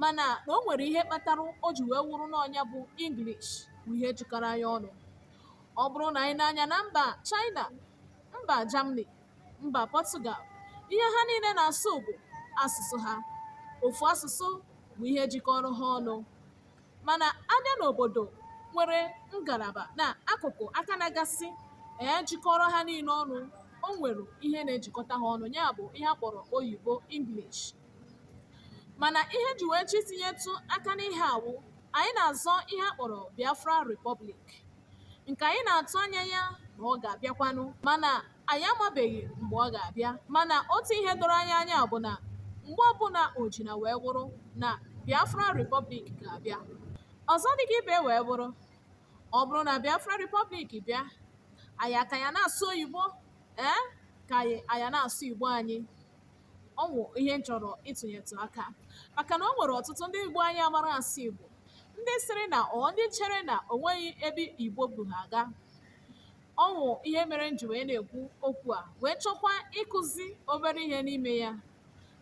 mana na o nwere ihe kpatara o ji wee wụrụ na ọ nya bụ English bụ ihe jikọrọ anyị ọnụ ọ bụrụ na anyị nee anya na mba China mba Germany mba Portugal ihe ha niile na-asụ bụ asụsụ ha ofu asụsụ bụ ihe jikọrọ ha ọnụ mana a bịa n'obodo nwere ngalaba na akụkụ aka na-agasị ee jikọrọ ha niile ọnụ o nwere ihe na-ejikọta ha ọnụ ya bụ ihe a kpọrọ oyibo English mana ihe m ji wee chọọ itinyetụ aka n'ihe a wụ anyị na-azọ ihe a kpọrọ Biafra Republic nke anyị na-atụ anya ya na ọ ga-abịakwanụ mana anyị amabeghị mgbe ọ ga-abịa mana otu ihe doro anyị anya bụ na mgbe ọbụla o jina wee wụrụ na Biafra Republic ga-abịa ọzọ dịka ibe wee wụrụ ọ bụrụ na Biafra Republic bịa anyị aka ya na-asụ oyibo ee ka anyị aya na-asụ Igbo anyị ọ wụ ihe m chọrọ ịtụnyetụ aka maka na o nwere ọtụtụ ndị Igbo anyị amarọ asụ Igbo ndị sịrị na ọ ndị chere na o nweghị ebe Igbo bu ha aga ọ wụ ihe mere m ji wee na-ekwu okwu a wee chọkwa ịkụzi obere ihe n'ime ya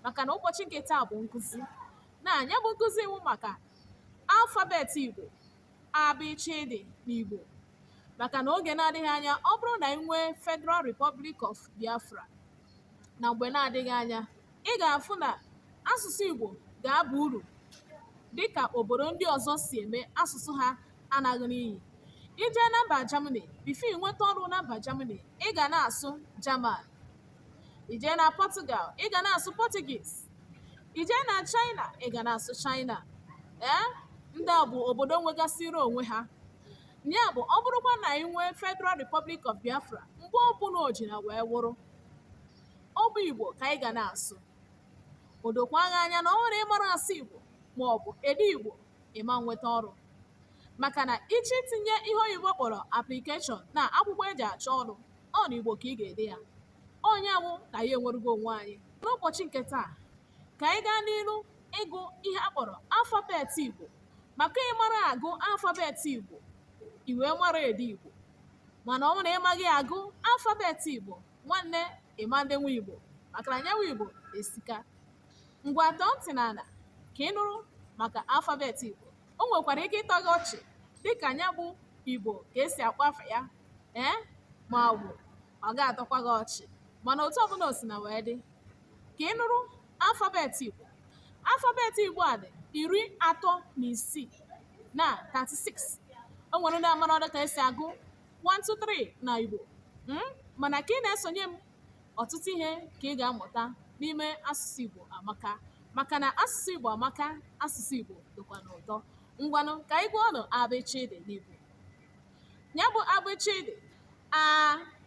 maka na ụbọchị nke taa bụ nkụzi na nya bụ nkụzi wụ maka alfabet Igbo abịchịdị n'Igbo maka na oge na-adịghị anya ọ bụrụ na anyị nwee Federal Republic of Biafra na mgbe na-adịghị anya ị ga-afụ na asụsụ Igbo ga-aba uru dịka obodo ndị ọzọ si eme asụsụ ha anaghị n'iyi i jee na mba Germany before i nweta ọrụ na mba Germany ị ga na-asụ German i jee na Portugal ị ga na-asụ Portuguese i jee na China ị ga na-asụ China ee ndị a bụ obodo nwegasịrị onwe ha ya bụ ọ bụrụkwa na anyị nwee Federal Republic of Biafra mgbe ọbụla o jina wee wụrụ ọ bụ Igbo ka anyị ga na-asụ o dokwa gị anya na ọ wụrụ ị marọ asụ Igbo ma ọ bụ ede Igbo ị ma enweta ọrụ maka na ị chọọ itinye ihe oyibo kpọrọ application na akwụkwọ e ji achọ ọrụ ọ na Igbo ka ị ga-ede ya ọ nya wụ na anyị enwerugo onwe anyị n'ụbọchị nke taa ka anyị gaa n'ilu ịgụ ihe a kpọrọ alfabet Igbo maka ị mara agụ alfabet Igbo i wee mara ede Igbo mana ọ wụ na ị maghị agụ alfabet Igbo nwanne ị ma edenwu Igbo maka na nya wụ Igbo esika ngwa tọọ ntị n'ala ka ị nụrụ maka alfabet Igbo o nwekwara ike ịtọ gị ọchị dịka nya bụ Igbo ka e si akpọ afa ya ee ma ọ bụ ọ ga-atọkwa gị ọchị mana otu ọbụla o si na wee dị ka ị nụrụ Alfabet Igbo Alfabet Igbo a dị iri atọ na isii na 36 o nwere ndị amarọdụ ka esi agụ 123 na Igbo hmm? mana ka ị na-esonye m ọtụtụ ihe ka ị ga-amụta n'ime asụsụ Igbo amaka maka na asụsụ Igbo amaka asụsụ Igbo dịkwanụ ụtọ ngwanụ ka anyị gụọ ọnụ abịchịdị n'Igbo ya bụ abịchịdị a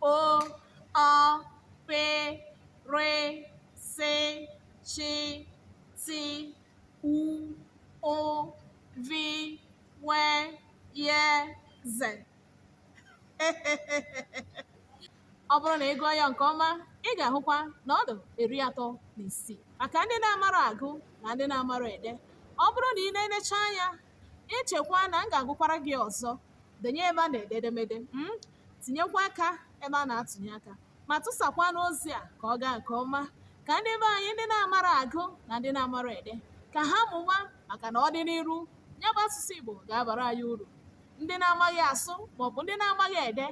o ọ pe re se shi ti u ụ vi we ye ze ọ bụrụ na ị gụọ ya nke ọma ị ga-ahụkwa na ọ dị iri atọ na isii maka ndị na-amara agụ na ndị na-amara ede ọ bụrụ na ị nenechaa anya i chekwa na m ga-agụkwara gị ọzọ denye ebe a na-ede edemede mm, tinyekwa aka ebe a na-atụnye aka ma tụsakwanụ ozi a ka ọ gaa nke ọma ka ndị be anyị ndị na-amara agụ na ndị na-amara ede ka ha mụwa maka na ọdịniru ya bụ asụsụ Igbo ga-abara anyị uru ndị na-amaghị asụ maọbụ ndị na-amaghị ede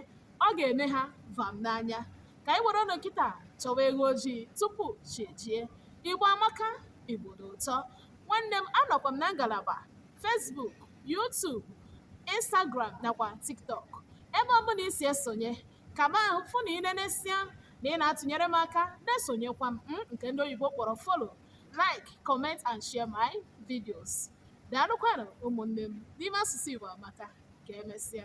ọ ga-eme ha vam n'anya ka anyị were kịta chọwa eghu ojii tupu chi ejie Igbo amaka Igbo dị ụtọ nwanne m anọkwa m na ngalaba Facebook, YouTube, Instagram nakwa TikTok. Ebe ọbụla i si esonye, ka m ahụ fụ na ị nenesịa na ị na-atụnyere m aka na-esonyekwa m nke ndị oyibo kpọrọ follow, like, comment and share my videos. Daalụkwanụ ụmụnne m n'ime asụsụ Igbo amaka ka emesịa.